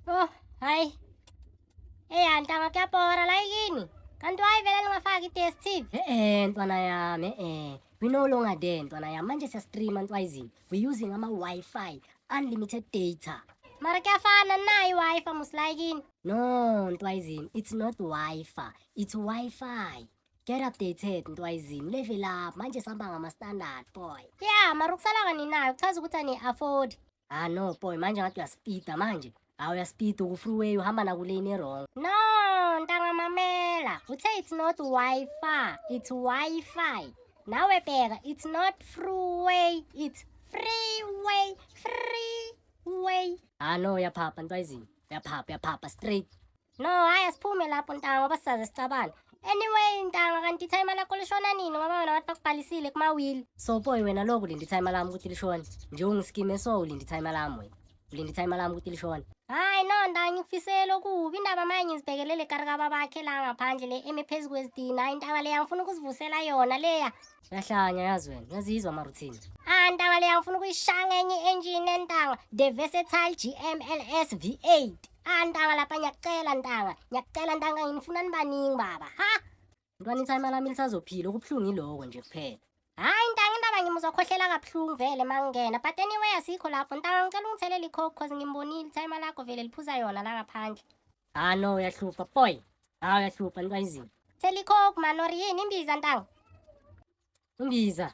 Oh, hayi. Eh, antanga kuyabhora la yini? Kanti wayivele lingafaki i-DSTV? Eh, eh, ntwana yami, eh. We no longer there, ntwana yami. Manje siyastreama ntwayizini. We using ama-Wi-Fi, unlimited data. Mara kuyafana nayo i-Wi-Fi musilayikini. No, ntwayizini, it's not Wi-Fi, it's Wi-Fi. Get updated ntwayizini, level up. Manje sihamba ngama-standard boy. Yeah, mara ukusala kaninayo kuchaza ukuthi ani-afford. ah no boy manje ngathi uyaspida manje hawu uyaspida ukufreeway uhamba nakulane erong no ntanga mamela uthe it's not wifi it's wifi nawe bheka it's not freeway it's freeway freeway ah no uyaphapha ntwayizini uyaphapha uyaphapha straight No, hayi asiphume lapho ntanga ngoba sisaze sicabane. Anyway ntanga kanti time lakho lishona nini ngoba wena wathi bakubhalisile kuma will. So boy wena lokhu lindi time lami ukuthi lishona. Nje ungiskime so ulindi time lami wena. Ulindi time lami ukuthi lishona. Hayi no ntanga ngifisele okubi indaba manje ngizibhekelele karika babakhe la ngaphandle le eme phezu kwezidina intanga leya ngifuna ukuzivusela yona leya. Uyahlanya yazi wena, uyazizwa ama routine. Ah ntanga leya ngifuna ukuyishaya ngenye engine entanga. The Versatile GMLS V8. Ah ntanga lapha ngiyakucela ntanga. Ngiyakucela ntanga ngifuna nibaningi baba. Ha? Mntwana ithayima lami lisazophila okubuhlungu iloko nje kuphela. Hayi ntanga indaba ngimuzwa khohlela kabuhlungu vele mangena. But anyway asikho lapho ntanga ngicela ungithelele ikhokho cause ngimbonile ithayima lakho vele liphuza yona la ngaphandle. Ah no uyahlupha boy. Ah uyahlupha niba izini. Thela ikhokho man or yini imbiza ntanga. Imbiza.